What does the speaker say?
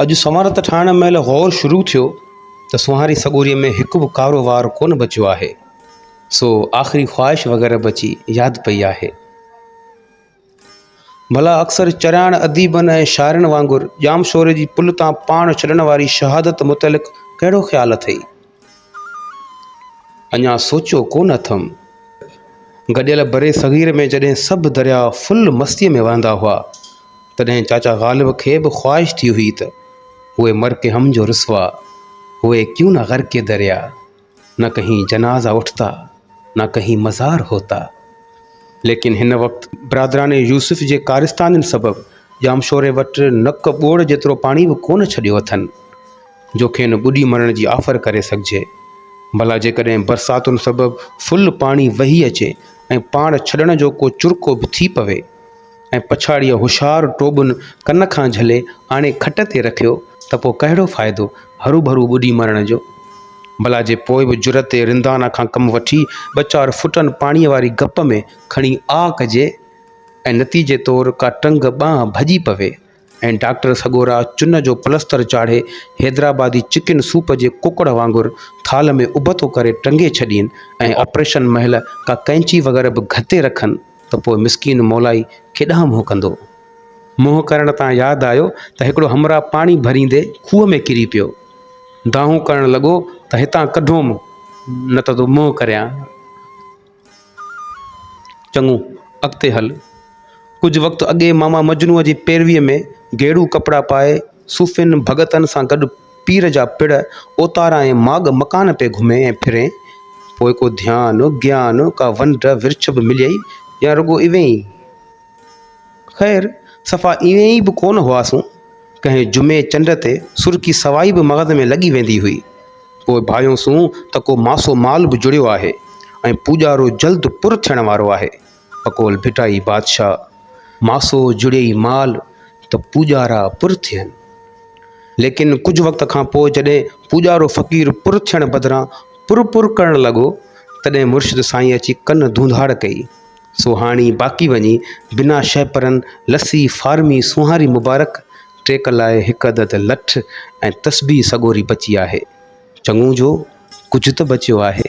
اڄ سنوار ته ٺاهڻ مهل غور شروع ٿيو ته سونهاري سڳوريء ۾ هڪ به ڪارو وار ڪونه بچيو آهي، سو آخري خواهش وغيره به اچي ياد پئي آهي. ڀلا اڪثر چرياڻ اديبن ۽ شاعرن وانگر ڄامشوري جي پل تان پاڻ ڇڏڻ واري شهادت متعلق ڪهڙو خيال اٿئي؟ اڃا سوچيو ڪونه اٿم. گڏيل برصغير ۾ جڏهن سڀ درياء فل مستيء ۾ وهندا هئا، تڏهن چاچا غالب کي به خواهش ٿي هئي ته هوء مر ڪي هم جو رسوا هوئي ڪيون نه غرق ڪي دريا، نه ڪهين جنازا اٺتا، نه ڪهين مزار هوتا. ليڪن هن وقت برادران يوسف جي ڪارستانين سبب ڄامشوري وٽ نڪ ٻوڙ جيترو پاڻي به ڪونه ڇڏيو اٿن. جو کين ٻڏي مرڻ جي آفر ڪري سگهجي. ڀلا جيڪڏهن برساتن سبب فل پاڻي وهي اچي ۽ پاڻ ڇڏڻ جو ڪو چرڪو به ٿي پوي ۽ پڇاڙيء هوشيار ٽوٻن ڪن کان جهلي آڻي کٽ تي رکيو ته پوء ڪهڙو فائدو هروڀرو ٻڏي مرڻ جو؟ ڀلا جي پوء به جرئت رندانه کان ڪم وٺي ٻه چار فوٽن پاڻيء واري گپ ۾ کڻي آه ڪجي ۽ نتيجي طور ڪا ٽنگ ٻانهن ڀڄي پوي ۽ ڊاڪٽر سڳورا چن جو پلستر چاڙهي حيدرآبادي چڪن سوپ جي ڪڪڙ وانگر ٿالهه ۾ ابتو ڪري ٽنگي ڇڏين ۽ آپريشن مهل ڪا ڪئنچي وغيره به گهتي رکن ته پوء مسڪين مولائي ڪيڏانهن منهن ڪندو؟ منهن ڪرڻ تان ياد آيو ته هڪڙو همراهه پاڻي ڀريندي کوهه ۾ ڪري پيو. دانهون ڪرڻ لڳو ته هتان ڪڍوم نه ته ٿو منهن ڪريان. چڱو، اڳتي هل. ڪجهه وقت اڳي ماما مجنوء جي پيرويء ۾ گيڙو ڪپڙا پائي، صوفين ڀڳتن سان گڏ پير جا پڙ، اوتارا ۽ ماڳ مڪان پئي گهمين ۽ ڦرين. پوء ڪو ڌيان، گيان، ڪا ونڊ ورڇ به مليئي يا رڳو ايوين ئي؟ خير صفا ايئن ئي به ڪونه هئاسون ڪنهن جمعي چنڊ تي سرڪي سوائي به مغز ۾ لڳي ويندي هئي پوء ڀانيوسون ته ڪو ماسو مال به جڙيو آهي ۽ پوڄارو جلد پر ٿيڻ وارو آهي پڪول ڀٽائي بادشاهه ماسو جڙيئي مال ته پوڄارا پر ٿين ليڪن ڪجهه وقت کان پوء جڏهن پوڄارو فقير پر ٿيڻ بدران پر پر ڪرڻ لڳو تڏهن مرشد سائين اچي ڪن ڌونڌاڙ ڪئي سو هاڻي باقي وڃي بنا شهپرن لسي فارمي سونهاري مبارڪ ٽيڪ لاء هڪ عدد لٺ ۽ تسبيح سڳوري بچي آهي. چڱو جو ڪجهه ته بچيو آهي.